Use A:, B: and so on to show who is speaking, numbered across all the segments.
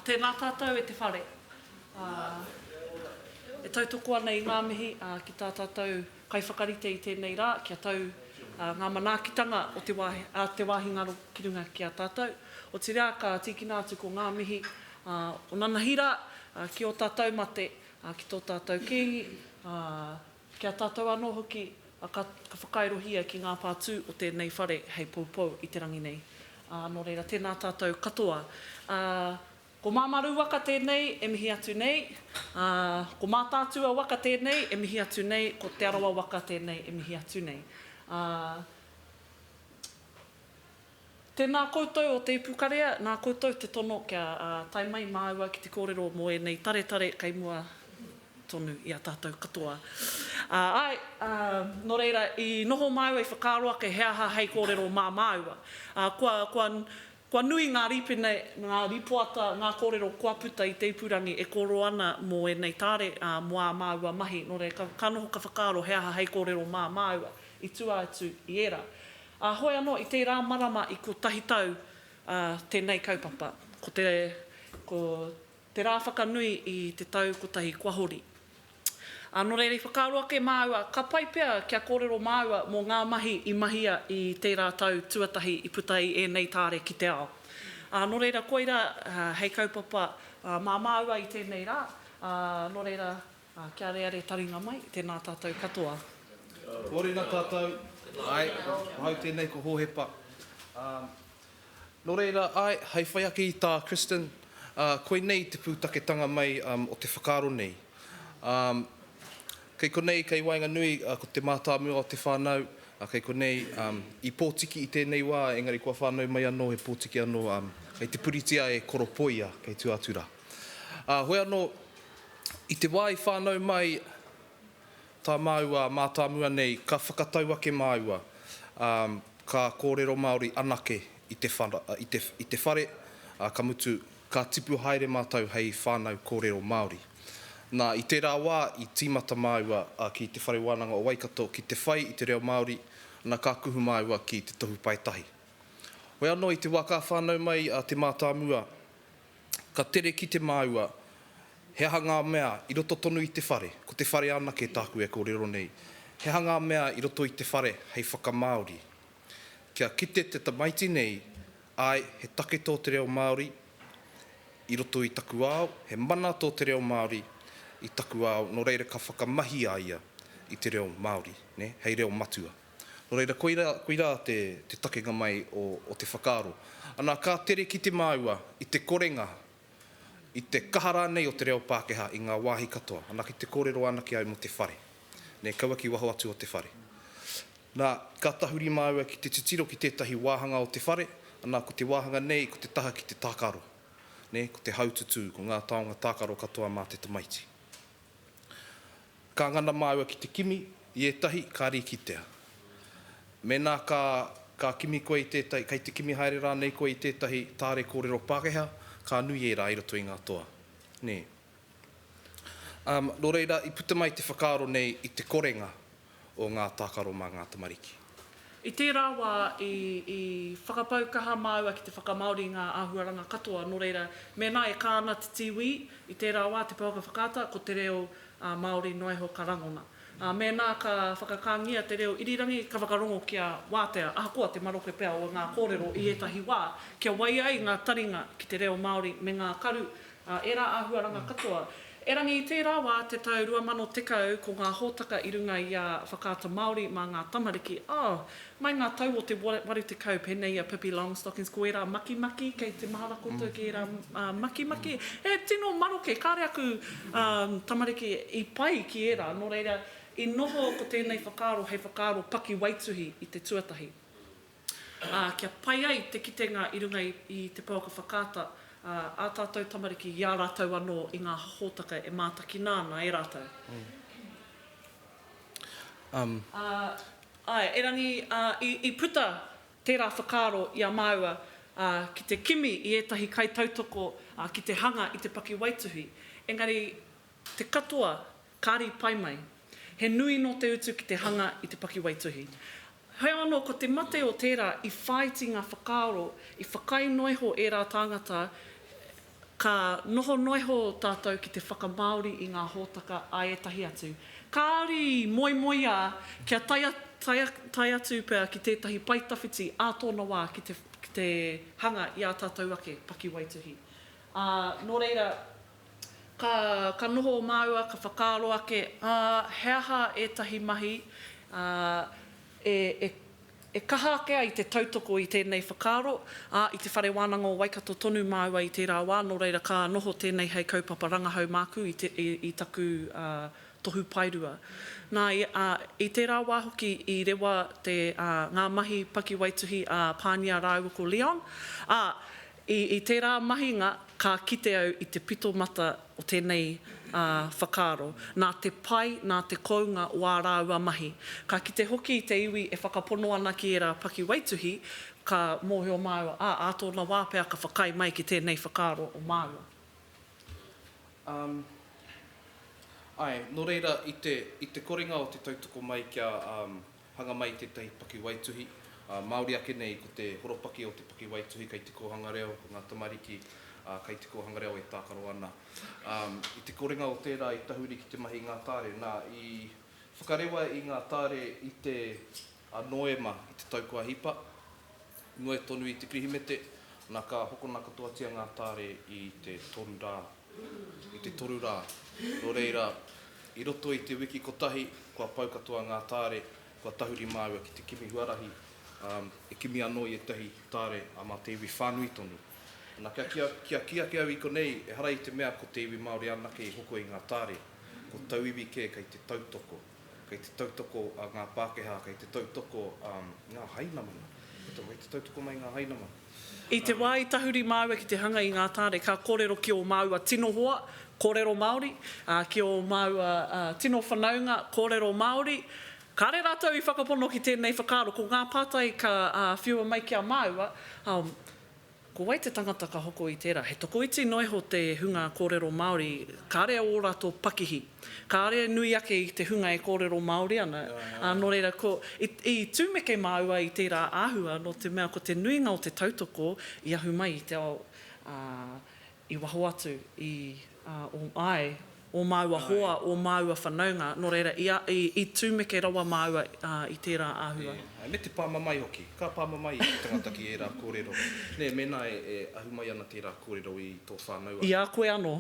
A: Tēnā tātou e te whare. E tautoko ana i ngā mihi ki tā tātou kaiwhakarite i tēnei rā kia tau ngā manaakitanga o te wāhi, a te wāhi ngaro ki runga ki a tātou. Otirā ka tīkina atu ko ngā mihi o nanahi rā ki ō tātou mate, ki tō tātou kīngi, Ki a tātou anō hoki, ka whakairohia ki ngā pātū o tēnei whare hei poupou i te rangi nei. Nō reira, tēnā tātou katoa. Ko Māmā Rū waka tēnei e mihi atu nei, ko Mātaatua waka tēnei e mihi atu nei, ko Te Arawa waka tēnei e mihi atu nei. Tēnā koutou o Te Ipukarea, nā koutou te tono kia tae mai māua ki te kōrero mō ēnei taretare kei mua tonu i a tātou katoa. Āe, nō reira, i noho māua, i whakaaro ake he aha hei kōrero mā māua. Kua nui ngā rīpene, ngā rīpoata, ngā kōrero kua puta i te ipurangi e kōrero ana mō ēnei tare, mō ā māua mahi, nō reira, ka noho ka whakaaro he aha hei kōrero mā māua i tua atu i ērā. Ā, hoi anō i tērā marama i kotahi tau ā tēnei kaupapa, ko te, ko te rā whakanui i te tau kotahi kua hori. Ā, nō reira i whakaaro ake māua ka pai pea kia kōrero māua mō ngā mahi i mahia i tērā tau tuatahi i puta i ēnei tāre ki te ao. Ā, nō reira koirā hei kaupapa mā māua i tēnei rā, ā, nō reira Ā, kia areare taringa mai, tēnā tātou katoa. Morena
B: tatou, ae, ahau tenei ko Hohepa, a, no reira, ae, hei whai ake i ta Kristin, a, koinei te putaketanga mai o te whakaaro nei. A, kei konei, kei waenganui, a, ko te matamua o te whanau, a, kei konei, a, i potiki i tenei wa, engari kua whanau mai ano, he potiki ano, a, kei te puritia e koropoia, kei tu atu ra. Ā, hoi anō, i te wā i whānau mai tā māua mātāmua nei, ka whakatau ake māua, ā, ka kōrero Māori anake i te whara, i te, i te whare, ā, ka mutu, ka tipu haere mātou hei whānau kōrero Māori. Nā, i tērā wā, i tīmata māua ki Te Whare Wānanga o Waikato ki te whai i te reo Māori, nā, ka kuhu māua ki Te Tohu Paetahi. Hoi anō, i te wā ka whānau mai te mātāmua, Ka tere ki te māua, he aha ngā mea i roto tonu i te whare, ko te whare anake tāku e kōrero nei, he aha ngā mea i roto i te whare hei whakamāori. Kia kite te tamaiti nei, āe, he take tō te reo Māori i roto i taku ao, he mana tō te reo Māori i taku ao, nō reira ka whakamahi a ia i te reo Māori, nē, hei reo matua. Nō reira, koirā, koirā te, te takenga mai o, o te whakaaro. Anā, ka tere kite māua i te korenga, i te kaha rānei o te reo Pākehā i ngā wāhi katoa. Anā, ki te kōrero ana ki a au mō te whare. Nē, kaua ki waho atu o te whare. Nā, ka tahuri māua ki te titiro ki tētahi wāhanga o te whare, anā, ko te wāhanga nei, ko te taha ki te tākaro. Nē, ko te haututū, ko ngā taonga tākaro katoa mā te tamaiti. Ka ngana māua ki te kimi i ētahi, ka rīkitea. Mēnā ka, ka kimi koe i tētahi, kei te kimi haere rānei koe i tētahi tāre kōrero Pākehā, ka nui ērā i roto i ngā toa. Nē. Umm, nō reira, i puta mai te whakaaro nei i te korenga o ngā tākaro mā ngā tamariki. I tērā
A: wā, i whakapau kaha māua ki te whakamāori i ngā āhuaranga katoa, nō reira, mēnā e kā ana te tīwī, i tērā wā, te pouaka whakaata, ko te reo Māori noa iho ka rangona. Ā, mēnā ka whakakāngia te reo irirangi, ka whakarongo kia wātea, ahakoa te maroke pea o ngā kōrero i ētahi wā, kia waia ai ngā taringa ki te reo Māori me ngā karu Ā ērā āhuaranga katoa. Erangi i tērā wā, te tau 2010, ko ngā hōtaka i runga i a Whakaata Māori mā ngā tamariki, oh, mai ngā tau o te 80 pēnei i a Pippi Longstockings, ko ērā makimaki, kei te mahara koutou ki ērā makimaki, he tino maroke, kāre aku tamariki i pai ki ērā, nō reira, i noho ko tēnei whakaaro hei whakaaro pakiwaituhi i te tuatahi. Ā, kia pai ai te kitenga i runga i te pouaka whakaata ā tātou tamariki i a rātou anō i ngā hōtaka e mātakina ana e rātou. Āe, erangi i puta tērā whakaaro i a māua ki te kimi i ētahi kaitautoko ki te hanga i te pakiwaituhi, engari te katoa Kāri pai mai. He nui nō te utu ki te hanga i te pakiwaituhi. Heoi anō, ko te mate o tērā i whāiti ngā whakaaro, i whakaae noa iho ērā tāngata, ka noho noa iho tātou ki te whakamāori i ngā hōtaka a ētahi atu. Kāri moemoeā kia tae atu pea ki tētahi pae tawhiti ā tōna wā ki te hanga i ā tātou ake pakiwaituhi. Ā, nō reira. Ka noho māua, ka whakaaro ake, ā, he aha ētahi mahi e kaha ake ai te tautoko i tēnei whakaaro, ā, i Te Whare Wānanga o Waikato tonu māua i tērā wā, nō reira ka noho tēnei hei kaupapa rangahau māku i taku tohu paerua. Nā, i tērā wā hoki i rewa ngā mahi pakiwaituhi a Pānia rāua ko Leon, ā, I tērā mahinga ka kite au i te pito mata o tēnei whakaaro, nā te pai, nā te kounga o ā rāua mahi. Ka kite hoki i te iwi e whakapono ana ki ērā pakiwaituhi, ka mōhio māua, ā, ā tōna wā pea ka whakaae mai ki tēnei whakaaro o māua.
B: Āe, nō reira, i te korenga o te tautoko mai kia Hanga mai tētahi pakiwaituhi, ā, Māori ake nei ko te horopaki o te pakiwaituhi kei te kōhanga reo, ko ngā tamariki, ā, kei te kōhanga reo e tākaro ana. Ā, i te korenga o tērā i tahuri ki te mahi i ngā tāre, nā, i whakarewa i ngā tāre i te, ā, Noema i te tau kua hipa, Noa tonu i te Pirihimete, na ka hokona katoatia nga taare i te toru ra, i te toru ra. No reira, i roto i te wiki kotahi, kua pau katoa nga taare, kua tahuri maua ki te kimi huarahi, um, e kimi ano i etahi taare a ma te iwi whanui tonu. Na kia ki, kia ki ake au i konei, ehara i te mea ko te iwi Maori anake i hoko i nga taare, ko tauiwi ke kei te tautoko. Kei te tautoko ngā Pākehā, kei te tautoko ngā Hainamana. Katoa, kei te tautoko mai ngā Hainamana. I te wā i
A: tahuri māua ki te hanga i ngā tāne, ka kōrero ki ō māua tino hoa, kōrero Māori, ā, ki ō māua tino whanaunga, kōrero Māori. Kāre rātou i whakapono ki tēnei whakaaro, ko ngā pātai ka whiua mai ki a māua, Ko wai te tangata ka hoko i tērā? He tokoiti noa iho te hunga kōrero Māori, kāre au ō rātou pakihi, kāre e nui ake i te hunga e kōrero Māori ana, ā, nō reira, ko, i, i tumeke māua i tērā āhua, nō te mea ko te nuinga o te tautoko i ahu mai i te ao, ā, I waho atu i ō, āe, ō māua hoa, ō māua whanaunga, nō reira, i a, i, i tūmeke rawa māua i tērā āhua. Ēe, me te pāmamae
B: hoki. Ka pāmamae i te tangata ki ērā kōrero, nē, mēnā e, e ahu mai ana tērā kōrero i tō whānau atu. I a koe anō.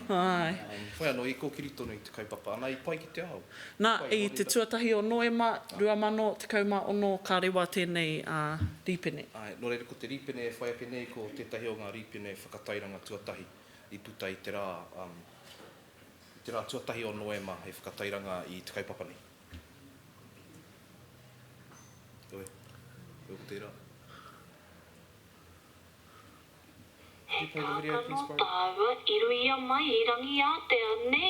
A: Āe.
B: Whai anō, i kōkiri tonu i te kaupapa, ana, i pai ki te ao. Nā, i te
A: tuatahi o Noema, 2016, ka rewa tēnei, ā, rīpene. Āe, nō reira, ko te
B: rīpene e whai ake nei ko tētahi o ngā rīpene whakatairanga tuatahi i puta i te rā i te rā tuatahi o Noema hei whakatairanga i te kaupapa nei. Heoi, koe ko tērā.
C: He pānga tāua i ruia mai i Rangiātea, nē?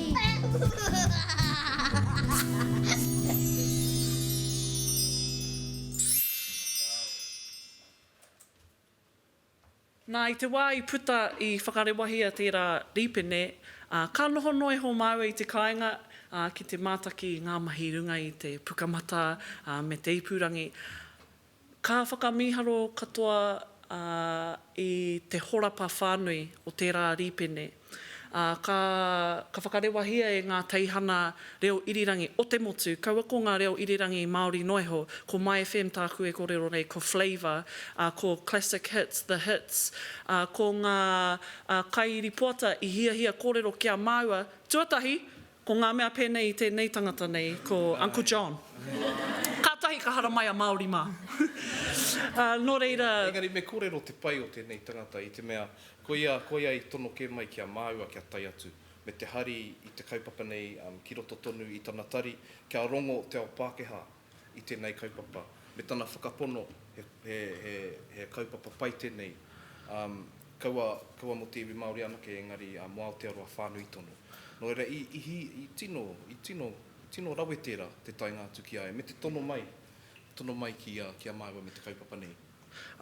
A: Nā, i te wā i puta, i whakarewahia tērā rīpene, ā, ka noho noa iho māua i te kāinga, ā, ki te mātaki i ngā mahi i runga i te Pukamata, ā, me te ipurangi. Ka whakamīharo katoa i te horapa whānui o tērā rīpene, ā, ka, ka whakarewahia e ngā teihana reo irirangi o te motu, kaua ko ngā reo irirangi Māori noa iho, ko My FM tāku e kōrero nei, ko Flavour, ā, ko Classic Hits, The Hits, ā, ko ngā kairipoata i hiahia kōrero ki a māua, tuatahi, Ko ngā mea pēnei i tēnei tangata nei, ko Uncle John. Kātahi ka haramai a Māori mā. Ā, nō reira. Engari me kōrero te
B: pai o tēnei tangata i te mea, koia, koia i tono kē mai ki a māua kia tae atu me te hari i te kaupapa nei ki roto tonu i tana tari kia rongo te ao Pākehā i tēnei kaupapa, me tana whakapono he kaupapa pai tēnei, kaua mō te iwi Māori anake engari mō Aotearoa whānui tonu. Nō reira, i tino rawe tērā te taenga atu ki a ia me te tono mai, tono mai ki a māua me te kaupapa nei.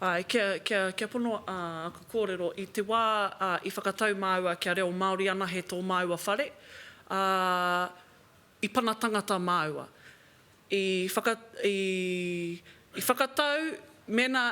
B: Āe,
A: kia pono āku kōrero, i te wā i whakatau māua kia reo Māori anahe tō māua whare, ā, I pana tangata māua. I whaka, i whakatau, mēnā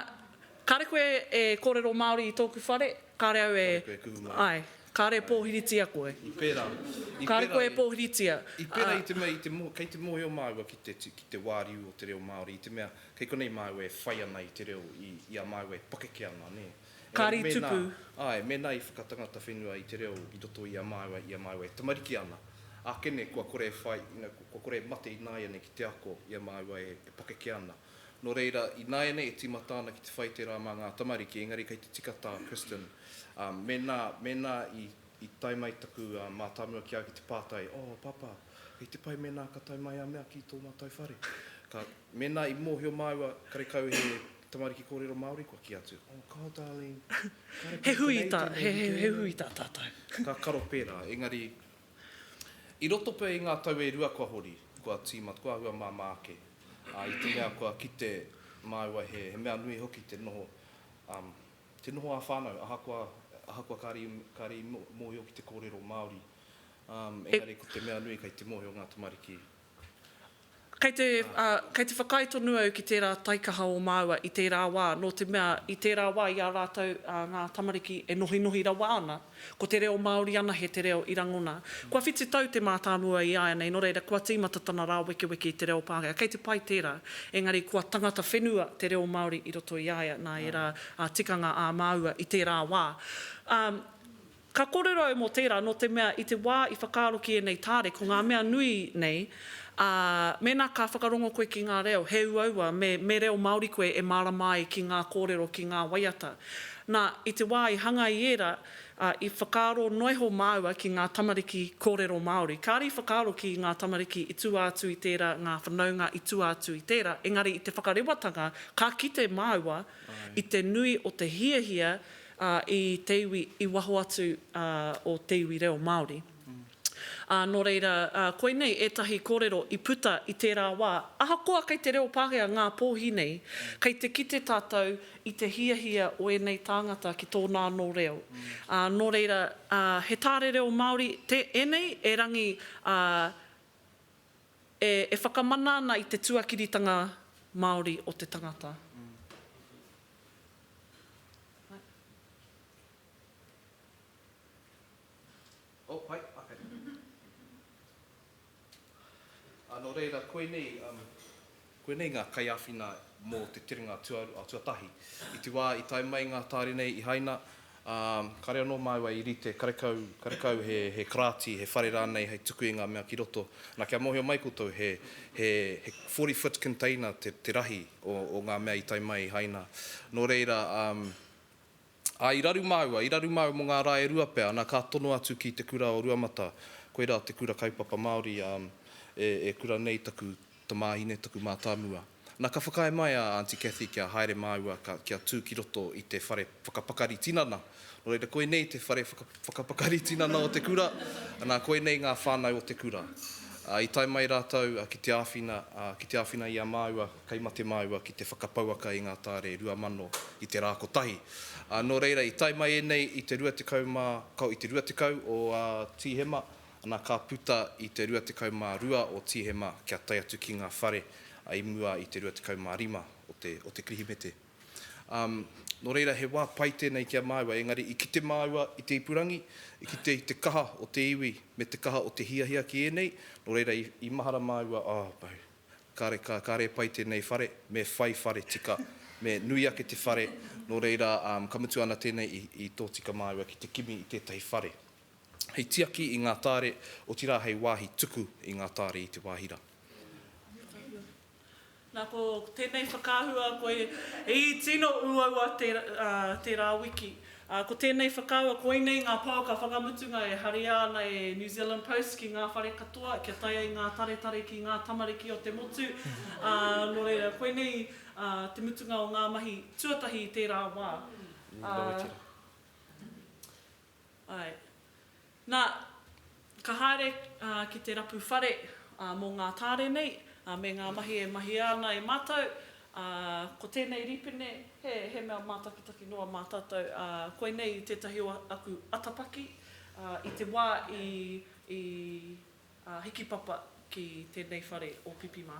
A: kāre koe e kōrero Māori i tōku whare, kāre au e. Kāre koe e kuhu mai. Āe,
B: kāre e pōhiritia
A: koe. I pērā, i pērā
B: i. Kāre koe e
A: pōhiritia, ā. I pērā i te mea,
B: i te mō, kei te mōhio māua ki te, ki te wāriu o te reo Māori, i te mea, kei konei māua e whai ana i te reo i, i a māua e pakeke ana, nē. Kāri tupu.
A: Āe, mēnā i
B: whakatangata whenua i te reo i roto i a māua, i a māua e tamariki ana, ākene kua kore e whai, kua kore e mate ināianei ki te ako i a māua e pakeke ana. Nō reira, ināianei e tīmata ana ki te whai tērā mā ngā tamariki, engari kei te tika tā Kristin, mēnā, mēnā i, i tae mai taku mātāmua ki a au ki te pātai, Oh, Pāpā, kei te pai mēnā ka tae mai a mea ki tō mātou whare? Ka, mēnā i mōhio māua, karekau he Tamariki kōrero Māori, kua kī atu, Oh, kaua darling, kāre pēnei tēnei i tēnei. He hui
A: tā, he hui tā tātou. Ka karo pērā,
B: engari, i roto pea i ngā tau e rua kua hori, kua tīmata, kua āhua māmā ake, ā, i te mea kua kite māua he mea nui hoki te noho, um, te noho ā-whānau, ahakoa, ahakoa kāre i, kāre i mōhio ki te kōrero Māori, um, engari ko te mea nui kei te mōhio ngā tamariki.
A: Kei te, ā, kei te whakaae tonu au ki tērā taikaha o māua i tērā wā, nō te mea, i tērā wā i a rātou, ā, ngā tamariki e nohinohi rawa ana, ko te reo Māori anahe te reo i rangona. Kua whitu tau te mātāmua i āianei, nō reira, kua tīmata tana rāwekeweke i te reo Pākehā. Kei te pai tērā, engari kua tangata whenua te reo Māori i roto i a ia, nā ērā, ā, tikanga ā māua i tērā wā. Ā, Ka kōrero au mō tērā, nō te mea i te wā i whakaaro ki ēnei tāre, ko ngā mea nui nei, ā, mēnā ka whakarongo koe ki ngā reo, he uaua me, me reo Māori koe e mārama ai ki ngā kōrero, ki ngā waiata. Nā, i te wā i hanga i ērā, ā, i whakaaro noa iho māua ki ngā tamariki kōrero Māori. Kāre i whakaaro ki ngā tamariki i tua atu i tērā, ngā whanaunga i tua atu i tērā, engari i te whakarewatanga, ka kite māua i te nui o te hiahia ā, i te iwi i waho atu o te iwi reo Māori. Ā, nō reira, koinei ētahi kōrero i puta i tērā wā, ahakoa kei te reo Pākehā ngā pōhi nei, kei te kite tātou i te hiahia o ēnei tāngata ki tōna anō reo. Ā, nō reira, he tāre reo Māori ēnei, erangi ā, e whakamana ana i te tuakiritanga Māori o te tangata.
B: Koinei ngā kaiāwhina mō te terenga tuatahi. I te wā i tae mai ngā tāre nei i Haina, ā, kāre anō māua i rite karekau, karekau he, he karāti, he whare rānei hei tuku i ngā mea ki roto. Nā, kia mōhio mai koutou, he, he, he forty foot container te, te rahi o, o ngā mea i tae mai i Haina. Nō reira, ā, Ā, i raru māua, i raru māua mō ngā rā e rua pea, ana ka tono atu ki te kura o Ruamata, koirā te kura kaupapa Māori e, e kura nei taku tamāhine, taku mātāmua. Nā, ka whakaae mai a Aunty Cathy kia haere māua ka, kia tū ki roto i te whare whakapakari tinana. Nō reira, koinei te whare whaka, whakapakari tinana o te kura, nā, koinei ngā whānau o te kura. Ā, i tae mai rātou ki te āwhina, ā, ki te āwhina i a māua, Kei mate māua ki te whakapouaka i ngā tāre rua mano i te rā kotahi. Ā, nō reira, i tae mai ēnei i te rua tekau mā, ka, i te rua tekau o ā, Tīhema, ana, ka puta i te rua tekau mā rua o Tīhema kia tae atu ki ngā whare, ā, i mua i te rua tekau mā rima o te, o te Kirihimete. Ā, nō reira, he wā pai tēnei ki a māua, engari i kite māua i te ipurangi, i kite i te kaha o te iwi me te kaha o te hiahia ki ēnei, nō reira, i, i mahara māua, oh, boo. Kare ka kare pai tenei whare, me whai whare tika, me nui ake te whare, no reira um ka mutu ana tenei i i totika maua ki te kimi i tetahi whare. Hei tiaki i nga taare, otira hei wahi tuku i nga taare i te wahi ra.
A: Na ko tenei whakaahua koe i tino uaua tera wiki. Ā, ko tēnei whakawa, koinei ngā pouaka whakamutunga e haria ana e New Zealand Post ki ngā whare katoa kia tae ai ngā taretare ki ngā tamariki o te motu, ā, nō reira, koinei te mutunga o ngā mahi tuatahi i tērā wā. Ā, āe. Nā, ka haere ki te rapu whare mō ngā tāre nei me ngā mahi e mahia ana e mātou. Ko tēnei rīpene, he mea mātakitaki noa mā tātou. Koinei tētahi o aku atapaki i te wā i hiki papa ki tēnei whare o Pipi mā.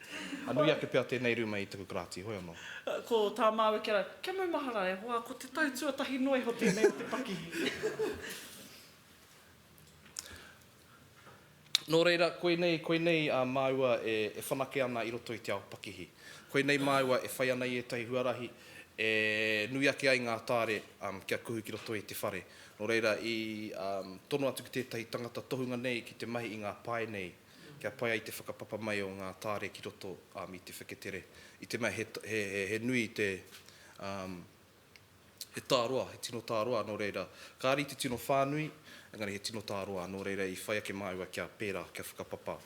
B: A nui ake pea tēnei rūma i taku karāti, hoi anō. Ko tā māua
A: kia rā, Kia maumahara, e hoa, ko te tau tuatahi noa iho tēnei o te pakihi.
B: Nō reira, koinei, koinei māua e whanake ana i roto i te ao pakihi. Koinei māua e whai ana i ētahi huarahi e nui ake ai ngā tāre kia kuhu ki roto i te whare. Nō reira, i tono atu ki tētahi tangata tohunga nei ki te mahi i ngā pae nei, Kia pai ai te whakapapa mai o ngā tāre ki roto um, i te wheketere. I te mea he, he, he, he nui te, um, he tāroa, he tino tāroa, nō reira, kāre i te tino whānui, engari he tino tāroa, nō reira i whai ake māua kia pērā, kia whakapapa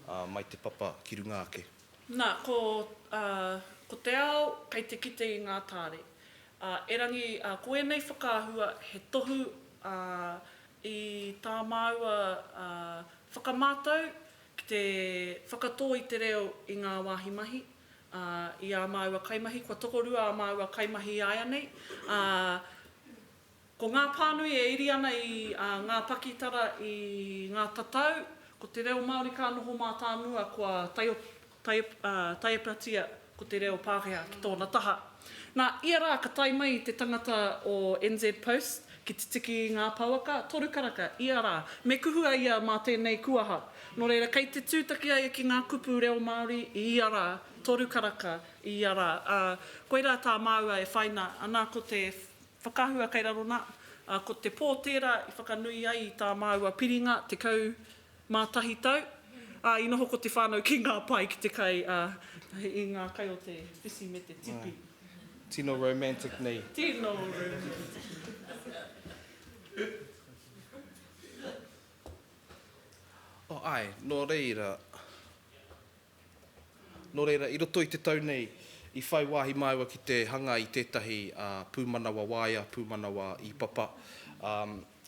B: uh, mai te papa ki runga ake. Nā, ko,
A: uh, ko te ao kei te kite i ngā tāre. Uh, erangi, uh, ko ēnei whakaahua he tohu uh, I tā māua whakamātau ki te whakatō i te reo i ngā wāhi mahi, ā, i ā māua kaimahi, kua tokorua ā māua kaimahi āianei, ā, ko ngā pānui e iri ana i ngā pakitara i ngā tatau, ko te reo Māori ka noho mātāmua kua taiopenga. taiepatia ko te reo Pākehā ki tōna taha. Nā, ia rā ka tae mai te tangata o NZ Post ki te tiki i ngā pouaka, toru karaka, ia rā. Me kuhu a ia mā tēnei kuaha. Nō reira, kei te tūtaki a ia ki ngā kupu reo Māori i ia rā, toru karaka, i ia rā. Ā, koirā tā māua e whaina ana ko te whakaahua kei raro nā, ā, ko te pō tērā i whakanui ai i tā māua piringa, 10 Mātahi tau, ā, i noho ko te whānau ki ngā pae, ki te kai, ā, i ngā kai o te whiwhi me te tipi. Tino
B: romantic nei. Tino
A: romantic.
B: Āe, nō reira. Nō reira, i roto i te tau nei, i whai wāhi māua ki te hanga i tētahi pūmanawa waea, pūmanawa īpapa,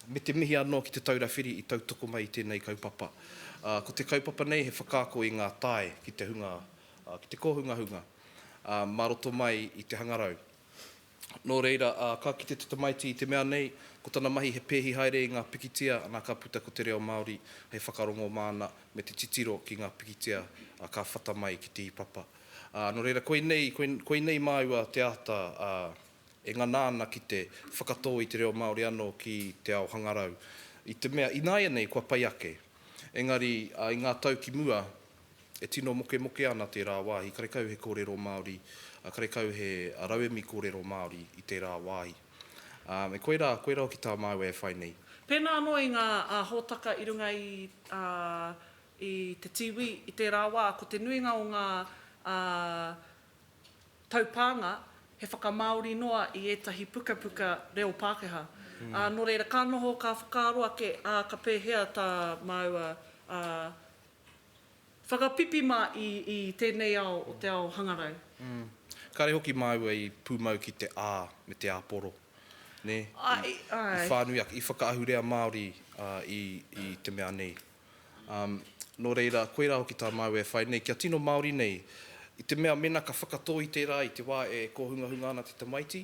B: me te mihi anō ki Te Taura Whiri i tautoko mai i tēnei kaupapa. Ko te kaupapa nei he whakaako i ngā tae ki te hunga, ki te kōhungahunga mā roto mai i te hangarau. Nō reira, ā, ka kite te tamaiti i te mea nei, ko tana mahi he pēhi haere i ngā pikitia, ana ka puta ko te reo Māori hei whakarongo māna me te titiro ki ngā pikitia ka whata mai ki te ipapa. Ā, nō reira, koinei, koinei māua te āta, ā, e ngana ana ki te whakatō i te reo Māori anō ki te ao hangarau, i te mea, ināianei kua pai ake. Engari, ā, i ngā tau ki mua, E tino mokemoke ana tērā wāhi, karekau he kōrero Māori, karekau he rauemi kōrero Māori i tērā wāhi. Me koirā, koirā hoki tā māua e whai nei. Pēnā anō i ngā
A: hōtaka i runga i te tīwī i tērā wā, ko te nuinga o ngā taupānga he whakamāori noa i ētahi pukapuka reo Pākehā. Nō reira, ka noho, ka whakaaro ake, ā, ka pēhea tā māua Whakapipi mā i i tēnei ao o te ao hangarau. Mm. Kāre
B: hoki māua i pūmau ki te ā me te āporo, nē? Ai, I, ai.
A: i whānui ake, i
B: whakaahurea Māori ā, i, i te mea nei. Um, nō reira, koirā hoki tā māua e whai nei, kia tino Māori nei, i te mea mēnā ka whakatō i tērā i te wā e kōhungahunga ana te tamaiti,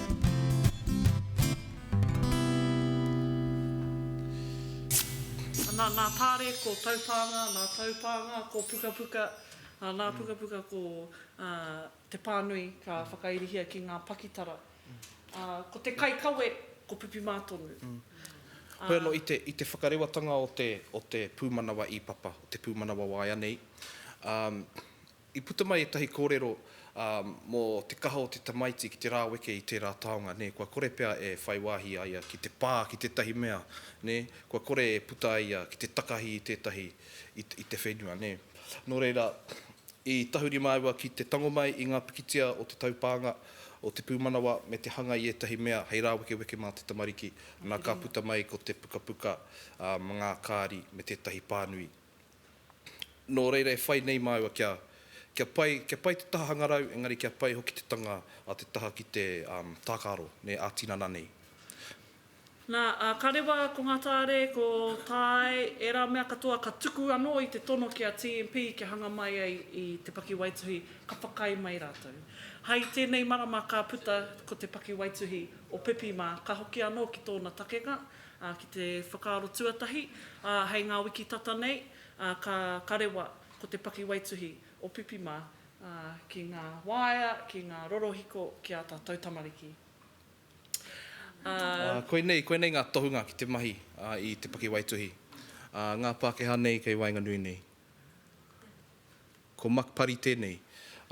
A: Ana, nā Tare ko Taupānga, nā Taupānga ko Pukapuka, ā, nā Pukapuka ko te pānui ka whakairihia ki ngā pakitara. Ā, ko te kaikawe ko Pipimā tonu. Hoi
B: anō, i te, i te whakarewatanga o te, o te pūmanawa ī-papa, o te pūmanawa waea nei, ā, I puta mai ētahi kōrero mō te kaha o te tamaiti ki te rāweke i tērā taonga, nē, kua kore pea e whai wāhi a ia ki te pā ki tētahi mea, nē, kua kore e puta ai ia ki te takahi i tētahi, i te whenua, nē. Nō reira, i tahuri māua ki te tango mai i ngā pikitia o te taupānga, o te pūmanawa me te hanga i ētahi mea hei rāwekeweke mā te tamariki, nā, ka puta mai ko te pukapuka mā ngā kāri me tētahi pānui Nō reira e whai nei māua kia, kia pai, kia pai te taha hangarau, engari kia pai hoki te tanga a te taha ki te, um, tākaro, nē, ā-tinana nei.
A: Nā, ā, ka rewa ko ngā tāre, ko Tae, ērā mea katoa ka tuku anō i te tono ki a TMP kia hanga mai ai i te pakiwaituhi, ka whakaae mai rātou. Hai tēnei marama ka puta ko te pakiwaituhi o Pipi mā, ka hoki anō ki tōna takenga, ā, ki te whakaaro tuatahi, ā, hei ngā wiki tata nei, ā, ka, ka rewa, ko te pakiwaituhi o Pipi mā, ā, ki ngā waea, ki ngā rorohiko, ki ā tātou tamariki. Ā.
B: Ā, koinei, koinei ngā tohunga ki te mahi, ā, i te pakiwaituhi, ā, ngā Pākehā nei kei waenganui nei. Ko Mark Parry tēnei.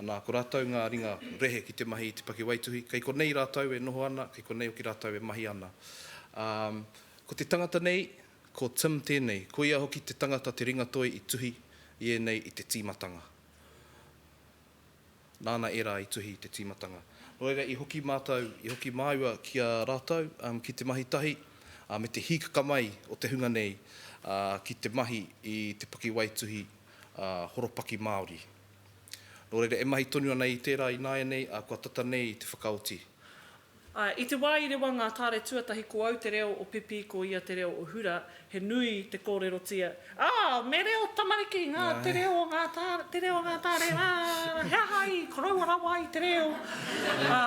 B: Anā, ko rātou ngā ringa rehe ki te mahi i te pakiwaituhi. Kei konei rātou e noho ana, kei konei hoki rātou e mahi ana. Ā, ko te tangata nei, ko Tim tēnei. Koia hoki te tangata te ringatoi i tuhi i ēnei i te tīmatanga. Nāna ērā i tuhi i te tīmatanga. Nō reira, i hoki mātou, i hoki māua ki a rātou ki te mahi tahi me te hīkaka mai o te hunga nei ki te mahi i te pakiwaituhi ā, horopaki Māori. Nō reira, e mahi tonu ana i tērā ināianei, ā, kua tata nei te whakaoti. Ā, i
A: te wā i rewa ngā tāre tuatahi ko au te reo o Pipi ko ia te reo o Hura, he nui te kōrerotia, Ā, me reo tamariki ngā te reo o ngā tāre, te reo o ngā tāre rā, he aha i koroua rawa ai te reo? Ā,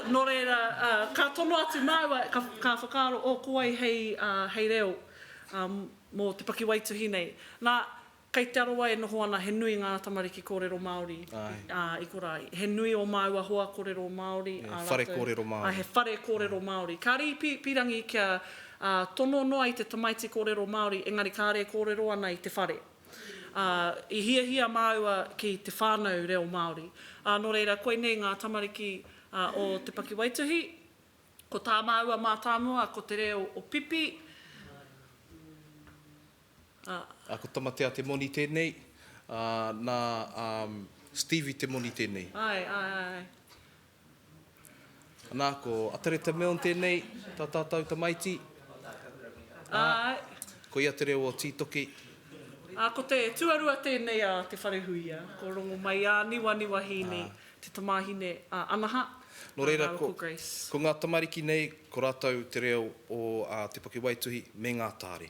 A: nō reira, ā, ka tono atu māua, ka, ka whakaaro, o, ko wai hei, ā, hei reo, ā, mō te pakiwaituhi nei. Nā, kei Te Arawa e noho ana he nui ngā tamariki kōrero Māori i korā. He nui ō māua hoa kōrero Māori. He whare kōrero Māori.
B: He whare kōrero
A: Māori. Kāre i pīrangi kia tono noa i te tamaiti kōrero Māori, engari kāre e kōrero ana i te whare. I hiahia māua ki te whānau reo Māori. Nō reira, koinei ngā tamariki o te pakiwaituhi, Ko tā māua mātāmua ko te reo o Pipi,
B: ā. Ā, ko Tamatea te moni tēnei, ā, nā, ā, Stevie te moni tēnei. Āe, āe, āe. Anā, ko Atareta Milne tēnei, tā tātou tamaiti.
A: Ā, Āe. ko ia
B: te reo o Tītoki. Ā, ko
A: te tuarua tēnei a Te Wharehuia, ko Rongomaiāniwaniwa Hīni, Te tamāhine a Anaha, Nō reira, ko,
B: ko ngā tamariki nei, ko rātou te reo o a, te pakiwaituhi me ngā tāre.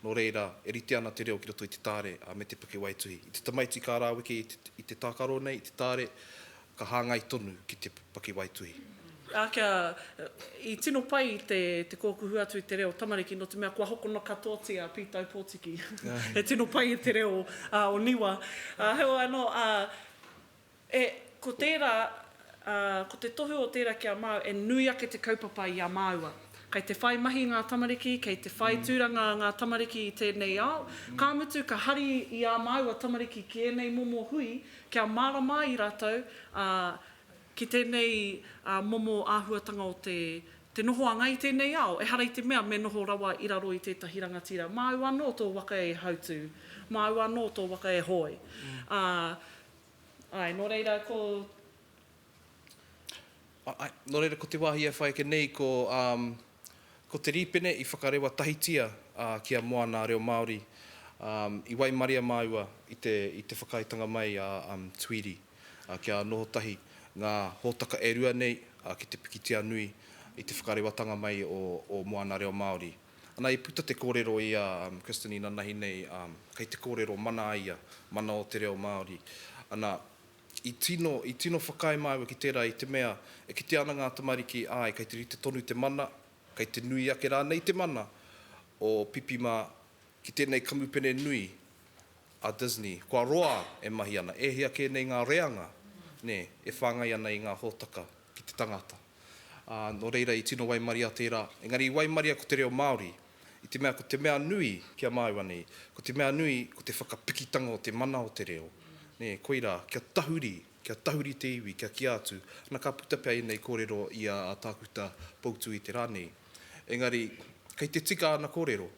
B: Nō reira, e rite ana te reo ki roto i te tāre a, me te pakiwaituhi. I te tamaiti ka rāweke i te, i te tākaro nei, i te tāre, ka hāngai tonu ki te pakiwaituhi. Ā, kia,
A: i tino pai te, te kōkuhu atu i te reo tamariki, nō te mea kua hokona katoatia a Pītau Pōtiki. He tino pai te reo, ā, o Niwa. Ā, heoi anō, ā, E, ko tērā, ā, ko te tohu o tērā ki a māu, e nui ake te kaupapa i a māua. Kei te whai mahi ngā tamariki, kei te whai tūranga ngā tamariki i tēnei ao, ka mutu ka hari i ā māua tamariki ki ēnei momo hui kia mārama ai rātou, ā, ki tēnei, ā, momo āhuatanga o te, te nohoanga i tēnei ao, ehara i te mea me noho rawa i raro i tētahi rangatira. Māu anō tō waka e hautū, māu anō tō waka e hoe, ā, Āe, nō reira ko.
B: Āe, nō reira ko te wāhi e whai ake nei ko, um, ko te rīpene i whakarewa tahitia uh, ki a Moana Reo Māori, um, i waimaria māua i te, i te whakaaetanga mai a um, Tweedie uh, kia noho tahi ngā hōtaka e rua nei uh, ki te pikitia nui i te whakarewatanga mai o, o Moana Reo Māori. Ana i puta te korero i a Kristin inanahi nei kei te korero mana a ia, mana o te reo Maori. Ana i tino, i tino whakaae māua ki tērā i te mea e kitea ana ngā tamariki āe kei te rite tonu te mana, kei te nui ake rānei te mana o Pipi mā ki tēnei kamupene nui a Disney. Kua roa e mahi ana, e hia kē nei ngā reanga, nē, e whāngai ana i ngā hōtaka. ki te tangata. Ā, nō reira i tino waimaria tērā, engari i waimaria ko te reo Māori, i te mea ko te mea nui ki a māua nei, ko te mea nui ko te whakapikitanga o te mana o te reo, nē, koirā, kia tahuri, kia tahuri te iwi, kia kīa atu, ana ka puta pea ēnei kōrero i a Tākuta Poutui i te rā nei. Engari, kei te tika āna kōrero,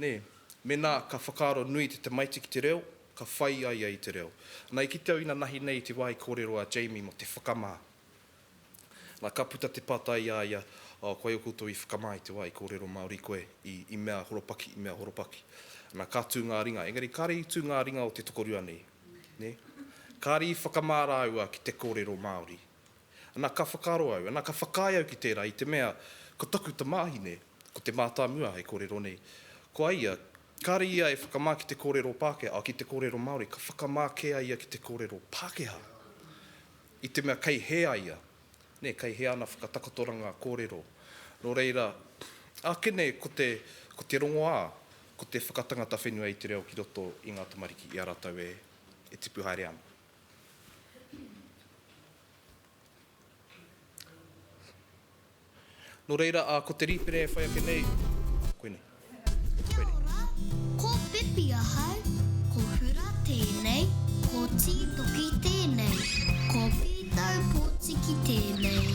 B: nē, mēnā ka whakaaro nui te tamaiti ki te reo, Ka whai a ia i te reo. Na, i kite au ina nahi nei te wā i kōrero a Jamie mō te whakamā. Na, ka puta te pātai i a ia, Oh, koia koutou i whakamā i te wā i kōrero Māori koe, i, i mea horopaki, i mea horopaki? Na, ka tū ngā ringa. Engari kāre i tū ngā ringa o te tokorua nei, nē? Kāre i whakamā rāua ki te kōrero Māori. Na, ka whakaaro au, na, ka whakaae au ki tērā i te mea, ko taku tamāhine, ko Te Mātāmua hei kōrero nei, ko a ia, Kāre ia e whakamā ki te kōrero Pākehā, ā, ki te kōrero Māori, ka whakamā kē a ia ki te kōrero Pākehā, i te mea kei hē a ia, nē, kei hē ana whakatakotoranga kōrero. Nō reira, ake nei ko te, ko te rongoā, ko te whakatangata whenua i te reo ki roto i ngā tamariki, i a rātou e, e tipu haere ana. Nō reira, ā, ko te rīpene e whai ake nei, koinei. Kia
D: ora! Ko Pipi ahau, ko Hura tēnei, ko Tītoki tēnei, ko Pītau Pōtiki tēnei.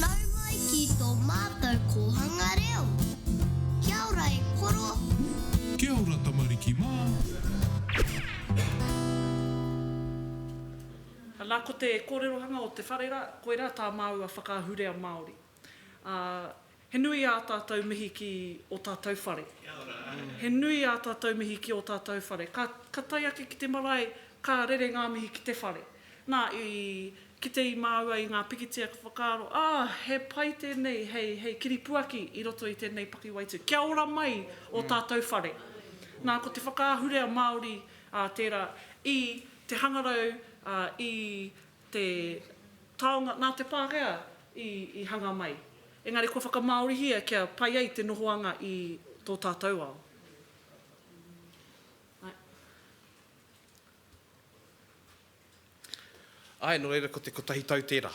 D: Nau mai ki tō mātou kōhanga reo! Kia ora e koro! Kia ora
E: tamariki mā!
A: Ana ko te kōrerohanga o te whare rā, koirā tā māua whakaahurea Māori. Ā, he nui ā tātou mihi ki ō tātou whare. Kia ora. He nui ā tātou mihi ki ō tātou whare. Ka, ka tae ake ki te marae, ka rere ngā mihi ki te whare. Nā, i kite i māua i ngā pikitia ka whakaaro, ā, he pai tēnei hei, hei kiripuaki i roto i tēnei pakiwaitū. Kia ora mai ō tātou whare. Nā, ko te whakaahurea Māori, ā, tērā, i Te hangarau i te taonga nā te Pākehā i hanga mai, engari kua whakamāorihia kia pai ai te nohoanga i tō tātou ao.
B: Āe, nō reira ko te kotahi tau tērā.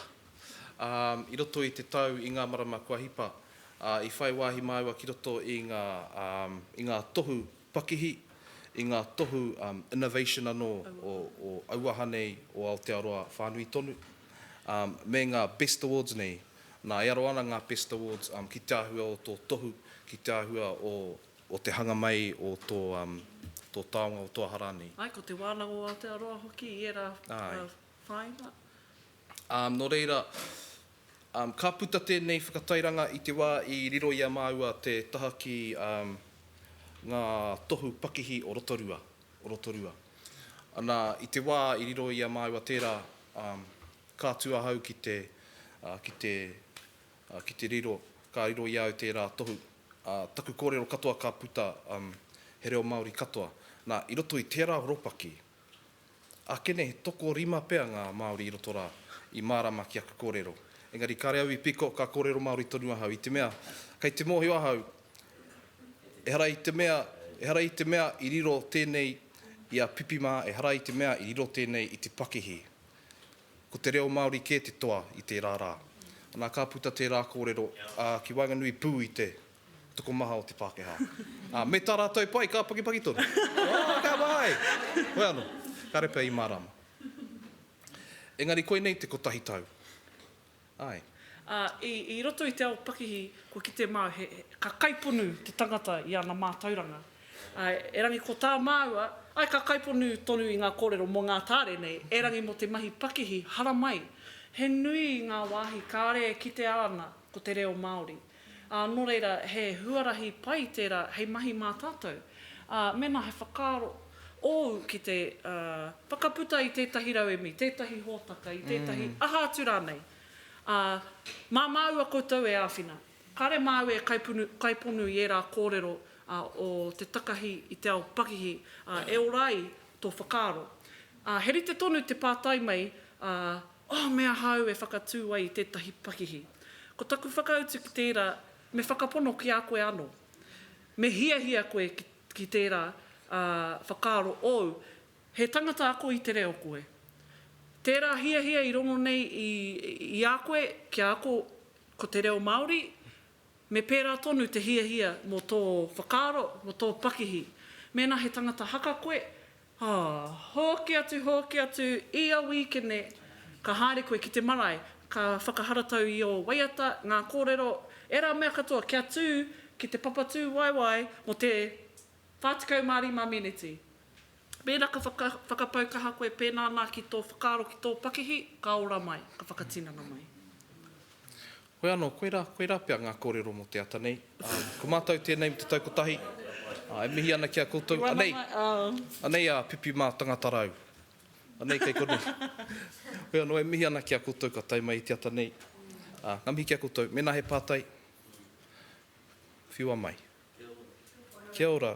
B: I roto i te tau, i ngā marama kua hipa, i whai wāhi māua ki roto i ngā tohu Pakihi, i ngā tohu innovation anō o auaha nei o Aotearoa whānui tonu, me ngā Best Awards nei, nā e aro ana ngā Best Awards ki te āhua o tō tohu, ki te āhua o te hanga mai o tō taonga o tō aha rānei. Āe, ko te wānanga o
A: Aotearoa hoki i ērā whāinga.
B: Nō reira, Ka puta tēnei whakatairanga i te wā i riro i a māua te taha ki ngā tohu pakihi o Rotorua, o Rotorua. Ana, i te wā i riro i a māua tērā, ka atu ahau ki te, ki te, ki te riro, ka riro i a au tērā tohu. Taku kōrero katoa ka puta he reo Māori katoa. Nā, i roto i tērā horopaki, Ake nei, tokorima pea ngā Māori i roto rā, i mārama ki aku kōrero. Engari kāre au i piko, ka kōrero Māori tonu ahau, i te mea, kei te mōhio ahau, ehara i te mea, ehara i te mea i riro tēnei i a Pipi mā, ehara i te mea i riro tēnei i te pakihi. Ko te reo Māori kē te toa i tērā rā. Anā, ka puta tērā kōrero, ā, ki waenganui pū i te. tokomaha o te Pākehā. Ā, me tā rātou pai, ka pakipaki tonu. Oh, ka pai! Hoi anō, kāre pea i mārāma. Engari koinei te kotahi tau. Āe. Ā, i,
A: i roto i te ao pakihi, kua kite māu he, ka kaiponu te tangata i ana mātauranga. Ā, erangi ko tā māua, āe ka kaiponu tonu i ngā kōrero mō ngā tāre nei, erangi mō te mahi pakihi haramai. He nui ngā wāhi kāre e kitea ana ko te reo Māori. Ā, nō reira, he huarahi pai tērā hei mahi mā tātou. Ā, mēnā he whakaaro ōu ki te whakaputa i tētahi rauemi, tētahi hōtaka, i tētahi aha atu rānei, ā, mā māua koutou e āwhina. Kāre māu e kaiponu i ērā kōrero o te takahi i te ao pakihi, ā, e ora ai tō whakaaro. Ā, he rite tonu te pātai mai, ā, Oh, me aha au e whakatū ai i tētahi pakihi? Ko taku whakautu ki tērā, me whakapono ki a koe anō. Me hiahia koe ki, ki tērā, ā, whakaaro ōu, he tangata ako i te reo koe. Tērā hiahia i rongo nei i, i a koe kia ako ko te reo Māori, me pērā tonu te hiahia mō tō whakaaro, mō tō pakihi. Mēnā he tangata haka koe, Ā, hoki atu, hoki atu, ia wīkene, ka haere koe ki te marae, ka whakaharatau i ō waiata ngā kōrero, ērā mea katoa kia tū ki te papatūwaewae mō te 45 meneti. Mēnā ka whakapau kaha koe pēnā nā ki tō whakaaro ki tō pakihi, ka ora mai, ka whakatinana mai.
B: Koe anō, koirā, koirā pea ngā kōrero mō te ata nei. Ko mātou tēnei me te tau kotahi. E mihi ana ki a koutou. Anei, anei a Pipi mā Tangatarau. Anei kei konei. Hoi anō, e mihi ana ki a koutou ka tae mai i te ata nei. Ngā mihi ki a koutou. Mēnā he pātai, whiua mai. Kia ora.